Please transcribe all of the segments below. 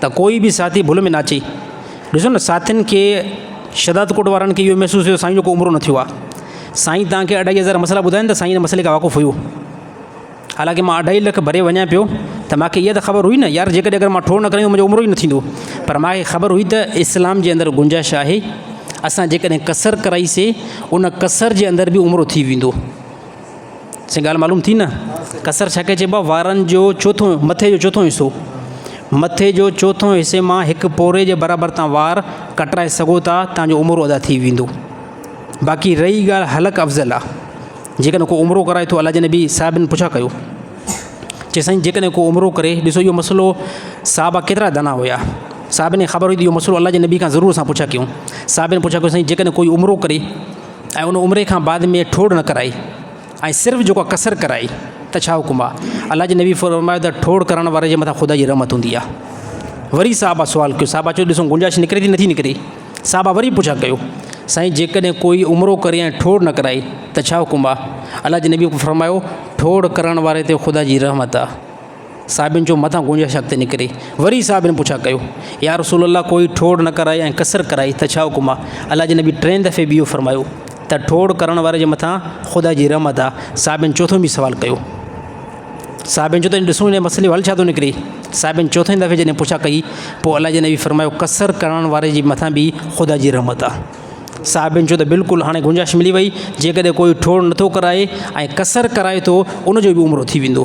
ته ڪوئي به ساٿي ڀل ۾ نه اچي. ڏسو نه ساٿين کي شھداد ڪوٽ وارن کي اھو محسوس ھيو سائين جو ڪو عمرو نه ٿيو آ سائين توھان کي اڍائي ھزار مسئلا ٻڌاين ته سائين ان مسئلي کان واقف ھيو حالانڪه مان اڍائي لک ڀري وڃان پيو ته مان کي اھا ته خبر ھئي نه يار جيڪڏھن اگر مان ٺوڙ نه کڻيس منھنجو عمرو ئي نه ٿيندو پر مان کي خبر ھئي ته اسلام جي اندر گنجائش آھي اسان جيڪڏھن ڪسر ڪرائيسي ان ڪسر جي اندر به عمرو ٿي ويندو. سائين ڳالهه معلوم ٿي نه؟ ڪسر ڇا کي چئبو آهي؟ وارن جو چوٿون، مٿي جو چوٿون حصو. مٿي جو چوٿون حصي مان هڪ پوري جي برابر توهان وار ڪٽرائي سگهو ٿا، توهان جو عمرو ادا ٿي ويندو. باقي رهي ڳالهه حلق افضل آ، جيڪڏهن ڪو عمرو ڪرائي ٿو، الله جي نبي صاحبن پڇا ڪيو. چي سائين جيڪڏهن ڪو عمرو ڪري، ڏسو اهو مسئلو صحابه ڪيترا دانا هيا، صحابن کي خبر هئي ته اهو مسئلو الله جي نبي کان ضرور اسان پڇا ڪيون. صحابن پڇا ڪيو سائين جيڪڏهن ڪوئي عمرو ڪري. ۽ ان عمري کان بعد ۾ ٺوڙ نه ڪرائي ۽ صرف جيڪو قصر ڪرائي ته ڇا حڪم آ الله جي نبي فرمايو ته ٺوڙ ڪرڻ واري جي مٿان خدا جي رحمت هوندي آ وري صحابه سوال ڪيو صحابه چيو ڏسو گنجائش نڪري ٿي نٿي نڪري صحابه وري پڇا ڪيو سائين جيڪڏهن ڪوئي عمرو ڪري ۽ ٺوڙ نه ڪرائي ته ڇا حڪم آ الله جي نبي فرمايو ٺوڙ ڪرڻ واري تي خدا جي رحمت آ صحابين چيو متان گنجائش اڳتي نڪري وري صحابين پڇا ڪيو يا رسول الله ڪوئي ٺوڙ نه ڪرائي ۽ قصر ڪرائي ته ڇا حڪم آهي الله جي نبي ٽين دفعي به اهو فرمايو ته ٺوڙ ڪرڻ واري جي مٿان خدا جي رحمت آهي صحابين چوٿون به سوال ڪيو صحابين چيو ته ڏسون هن مسئلي جو حل ڇا ٿو نڪري صحابين چوٿين دفعي جڏهن پڇا ڪئي پوء الله جي نبي فرمايو قصر ڪرڻ واري جي مٿان به خدا جي رحمت آهي صاحبين چيو ته بلڪل هاڻي گنجائش ملي وئي جيڪڏهن ڪوئي ٺوڙ نٿو ڪرائي ۽ قصر ڪرائي ٿو ان جو به عمرو ٿي ويندو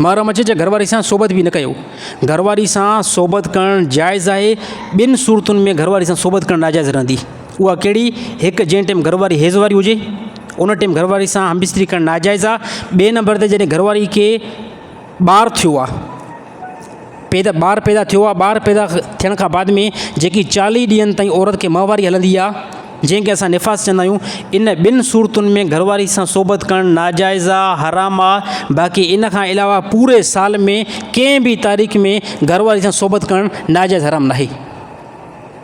محرم اچي چه گهر واري سان صحبت به نه ڪيو. گهر واري سان صحبت ڪرڻ جائز آهي. ٻن صورتن ۾ گهر واري سان صحبت ڪرڻ ناجائز رهندي. اها ڪهڙي؟ هڪ جنهن ٽيم گهر واري حيض واري هجي ان ٽيم گهر واري سان همبستري ڪرڻ ناجائز آهي. ٻئي نمبر تي جڏهن گهر واري کي ٻار ٿيو آهي. پيدا ٻار پيدا ٿيو آهي ٻار پيدا ٿيڻ کان بعد ۾ جيڪي چاليهه ڏينهن تائين عورت کي ماهواري هلندي آهي جنهن کي اسان نفاس چوندا آهيون ان ٻن صورتن ۾ گهر واري سان صحبت ڪرڻ ناجائز آهي حرام آهي باقي ان کان علاوه پوري سال ۾ ڪنهن بي تاريخ ۾ گهر واري سان صحبت ڪرڻ ناجائز حرام ناهي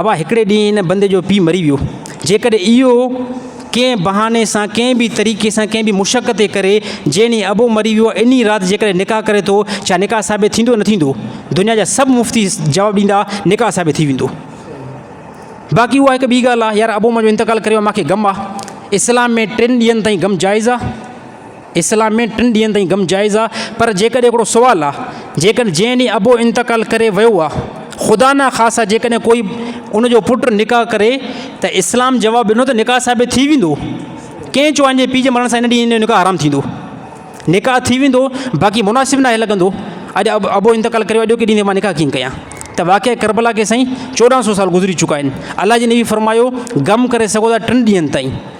ابا هڪڙي ڏينهن ان بندي جو پيء مري ويو. جيڪڏهن اهو ڪنهن بهاني سان ڪنهن به طريقي سان ڪنهن به مشقت ئي ڪري، جنهن ڏينهن ابو مري ويو انهي رات جيڪڏهن نڪاح ڪري ٿو، ڇا نڪاح ثابت ٿيندو نه ٿيندو؟ دنيا جا سڀ مفتي جواب ڏيندا نڪاح ثابت ٿي ويندو. باقي اها هڪ ٻي ڳالهه آهي يار ابو منهنجو انتقال ڪري ويو مانکي غم آ. اسلام ۾ ٽن ڏينهن تائين غم جائز آ. اسلام ۾ ٽن ڏينهن تائين غم جائز آ پر جيڪڏهن هڪڙو سوال آ جيڪڏهن جنهن ڏينهن ابو انتقال ڪري ويو آ خدا نه خاصا جيڪڏهن ڪوئي ان جو پٽ نڪاح ڪري ته اسلام جواب ڏنو ته نڪاح ثابت ٿي ويندو ڪنهن چيو انهن جي پيء جي مرڻ سان ان ڏينهن جو نڪاح حرام ٿيندو نڪاح ٿي ويندو باقي مناسب ناهي لڳندو اڄ اب ابو انتقال ڪري ويو اڄوڪي ڏينهن تي مان نڪاح ڪيئن ڪيان ته واقعي کربلا کي سائين چوڏهن سو سال گذري چڪا آهن الله جي نبي فرمايو غم ڪري سگهو ٿا ٽن ڏينهن تائين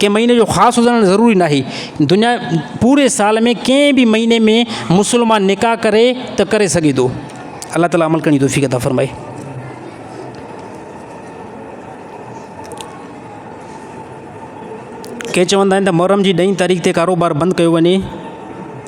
ڪنهن مهيني جو خاص هجڻ ضروري ناهي. دنيا پوري سال ۾ ڪنهن به مهيني ۾ مسلمان نڪاح ڪري ته ڪري سگهي ٿو. الله تعالي عمل ڪرڻ جي توفيق عطا فرمائي. ڪي چوندا آهن ته محرم جي ڏهين تاريخ تي ڪاروبار بند ڪيو وڃي.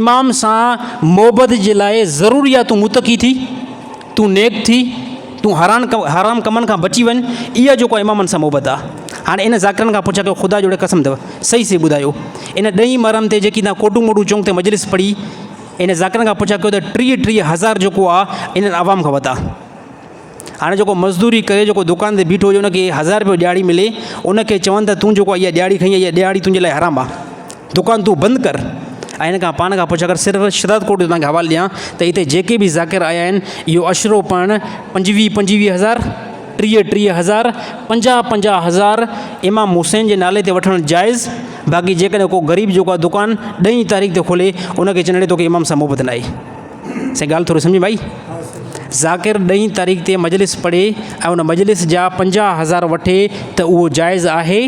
امام سان معبد جي لاء ضروري آ تون متقي ٿي تون نيڪ ٿي تون حران حرام ڪمن کان بچي وڃ اها جيڪو امامن سان محبت آ هاڻي ان ذاڪرن کان پڇا ڪيو خدا جوڙي قسم اٿو صحيح صحيح ٻڌايو ان ڏهين مرحم تي جيڪي تان ڪوٽون موٽون چونگ تي مجلس پڙي ان ذاڪرن کان پڇا ڪيو ته ٽيهه ٽيهه هزار جيڪو آ ان عوام کان وڌا هاڻي جيڪو مزدوري ڪري جيڪو دڪان تي بيٺو هجي ان کي هزار رپيو ڏيهاڙي ملي ان کي چون ته تون جيڪو اها ڏيهاڙي کڻي اها ڏيهاڙي تنهنجي لاء حرام آ دڪان تون بند ڪر ۽ هن کان پاڻ کان پڇ اگر صرف شداد ڪوٽ جو تنهنکي حوالو ڏيان ته هتي جيڪي به ذاڪر آيا آهن اهو عشرو پڙهڻ پنجويهه پنجويهه هزار ٽيهه ٽيهه هزار پنجاهه پنجاهه هزار امام حسين جي نالي تي وٺڻ جائز باقي جيڪڏهن ڪو غريب جيڪو آ دڪان ڏهين تاريخ تي کولي ان کي چئن اڙي توکي امام سان محبت ناهي سائين ڳالهه ٿوري سمجهه ۾ آئي؟ ذاڪر ڏهين تاريخ تي مجلس پڙهي ۽ ان مجلس جا پنجاهه هزار وٺي ته اهو جائز آهي؟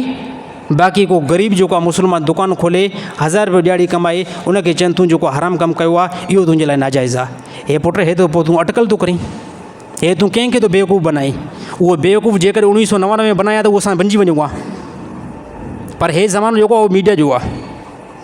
باقي ڪو غريب جيڪو آهي مسلمان دڪان کولي هزار رپيو ڏهاڙي ڪمائي ان کي چون تون جيڪو حرام ڪم ڪيو آهي اهو تنهنجي لاء ناجائز آهي. هي پٽ هي ته پوء تون اٽڪل ٿو ڪرين. هي تون ڪنهن کي ٿو بيوقوف بنائين. اهو بيوقوف جيڪڏهن اوڻيهه سؤ نوانوي ۾ بنايان ته اهو اسان بنجي وڃون ها. پر هي زمانو جيڪو آهي اهو ميڊيا جو آهي.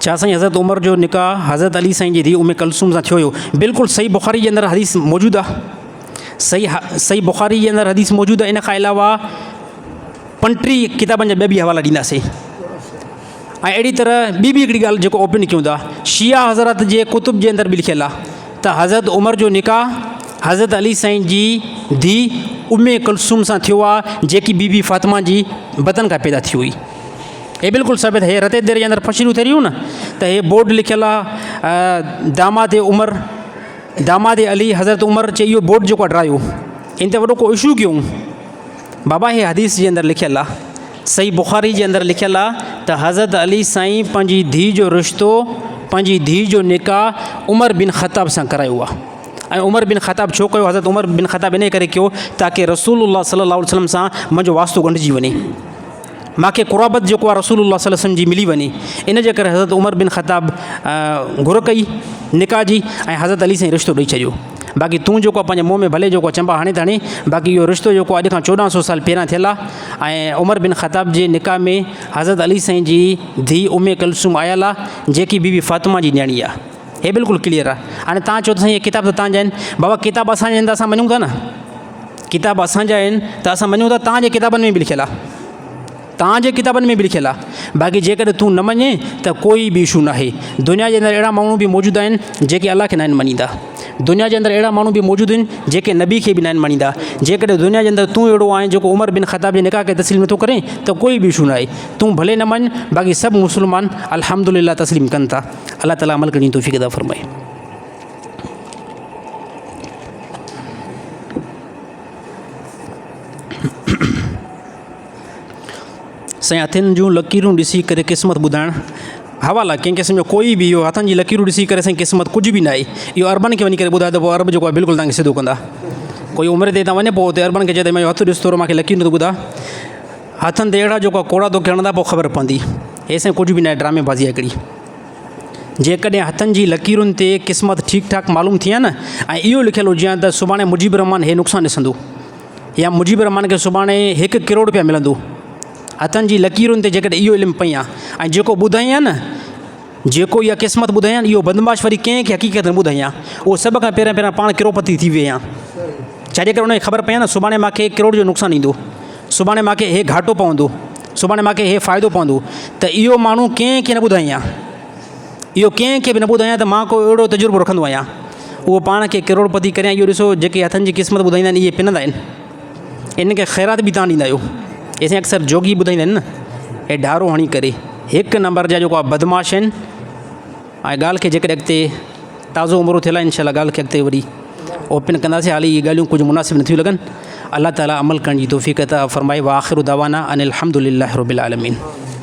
ڇا سائين حضرت عمر جو نڪاح حضرت علي سائين جي ڌيء ام ڪلثوم سان ٿيو هيو بلڪل صحيح بخاري جي اندر حديث موجود آهي صحيح ح صحيح بخاري جي اندر حديث موجود آهي ان کان علاوه پنٽري ڪتابن جا ٻيا به حوالا ڏينداسين ۽ اهڙي طرح ٻي به هڪڙي ڳالهه جيڪو اوپن ڪيون ٿا شيعا حضرات جي ڪتب جي اندر به لکيل آهي ته حضرت عمر جو نڪاح حضرت علي سائين جي ڌيء ام ڪلثوم سان ٿيو آ جيڪي بي بي فاطمه جي بطن کان پيدا ٿي هئي. هي بلڪل ثابت هي رتي دير جي اندر پشي نو ٿي ريون نه ته هي بورڊ لکيل آ داماد عمر داماد علي حضرت عمر چي اهو بورڊ جيڪو ڊرايو ان تي وڏو ڪو اشو ڪيون بابا هي حديث جي اندر لکيل آ. صحيح بخاري جي اندر لکيل آ ته حضرت علي سائين پنهنجي ڌيء جو رشتو پنهنجي ڌيء جو نڪاح عمر بن خطاب سان ڪرايو آ ۽ عمر بن خطاب ڇو ڪيو حضرت عمر بن خطاب انهي ڪري ڪيو تاڪه رسول الله صلي الله عليه وسلم سان منهنجو واسطو ڳنڍجي وڃي ماکي قرابت جيڪو آ رسول الله صلي الله عليه وسلم جي ملي وڃي ان جي ڪري حضرت عمر بن خطاب گهر ڪئي نڪاح جي ۽ حضرت علي سائين رشتو ڏئي ڇڏيو باقي تون جيڪو آ پنهنجي منهن ۾ ڀلي جيڪو چنبا هڻي ته هڻي باقي اهو رشتو جيڪو اڄ کان چوڏهن سو سال پهريان ٿيل آ ۽ عمر بن خطاب جي نڪاح ۾ حضرت علي سائين جي ڌي امي ڪلثوم آيل آ جيڪي بي بي فاطمه جي نياڻي آ هي بلڪل ڪليئر آ هاڻي تان چئو ته سائين هي ڪتاب ته تان جا آهن بابا ڪتاب اسان جا آهن ته اسان مڃون ٿا نه ڪتاب اسان جا آهن ته اسان مڃون ٿا تان جي ڪتابن ۾ به لکيل آ تان جي ڪتابن ۾ به لکيل آ باقي جيڪڏهن تون نه مڃين ته ڪوئي به اشو ناهي دنيا جي اندر اهڙا ماڻهو به موجود آهن جيڪي الله کي ناهن مڃيندا دنيا جي اندر اهڙا ماڻهو به موجود آهن جيڪي نبي کي به ناهن مڃيندا جيڪڏهن دنيا جي اندر تون اهڙو آهين جيڪو عمر بن خطاب جي نڪاح کي تسليم نٿو ڪرين ته ڪوئي به اشو ناهي تون ڀلي نه مڃ باقي سڀ مسلمان الحمدلله تسليم ڪن ٿا الله تعالي عمل ڪرڻ جي توفيق عطا فرمائي سائين هٿن جون لڪيرون ڏسي ڪري قسمت ٻڌائڻ حوالا ڪنهن قسم جو ڪوئي به اهو هٿن جي لڪيرون ڏسي ڪري سائين قسمت ڪجهه به ناهي اهو اربن کي وڃي ڪري ٻڌائي ته ارب جيڪو بلڪل تنگ سڌو ڪندا ڪوئي عمر تي وڃي پوء اتي اربن کي چئي ته مايو هٿ ڏس ٿورو ماکي لڪيرون ته ٻڌا هٿن تي اهڙا جيڪو ڪوڙا توکي هڻندا پوء خبر پوندي هي سائين ڪجهه به ناهي ڊرامي بازي آهي هڪڙي جيڪڏهن هٿن جي لڪيرن تي قسمت ٺيڪ ٺاڪ معلوم ٿئي ها نه ۽ اهو لکيل هجي ها ته سڀاڻي مجيب الرحمان هي نقصان ڏسندو يا مجيب الرحمان کي سڀاڻي هڪ ڪروڙ روپيا ملندو. هٿن جي لڪيرن تي جيڪڏهن اهو علم پئين ها ۽ جيڪو ٻڌائين ها نه، جيڪو اها قسمت ٻڌائين ها نه، اهو بدمعاش وري ڪنهن کي حقيقت نه ٻڌائين ها. اهو سڀ کان پهريان پهريان پاڻ ڪروڙپتي ٿي ويهين ها. ڇا جيڪڏهن ان کي خبر پئي ها نه سڀاڻي مان کي ڪروڙ جو نقصان ايندو، سڀاڻي مان کي هي گهاٽو پوندو، سڀاڻي مان کي هي فائدو پوندو ته اهو ماڻهو ڪنهن کي نه ٻڌائين ها. اهو ڪنهن کي به نه ٻڌايان ته مان ڪو اهڙو تجربو رکندو آهيان. اهو پاڻ کي ڪروڙپتي ڪريان اهو ڏسو جيڪي هٿن جي قسمت ٻڌائيندا آهن اهي پنندا آهن. انهن کي خيرات به توهان ڏيندا آهيو. اهي سائين اڪثر جوڳي ٻڌائيندا آهن نه. اهي ڍارو هڻي ڪري هڪ نمبر جا جيڪو آهي بدمعاش آهن. ۽ ڳالهه کي جيڪڏهن اڳتي تازو عمرو ٿيل آهي انشاء الله ڳالهه کي اڳتي وري اوپن ڪنداسين حالي اهي ڳالهيون ڪجهه مناسب نٿيون لڳن. الله تعالي عمل ڪرڻ جي توفيق عطا فرمائي واخر دعوانا ان الحمدلله رب العالمين.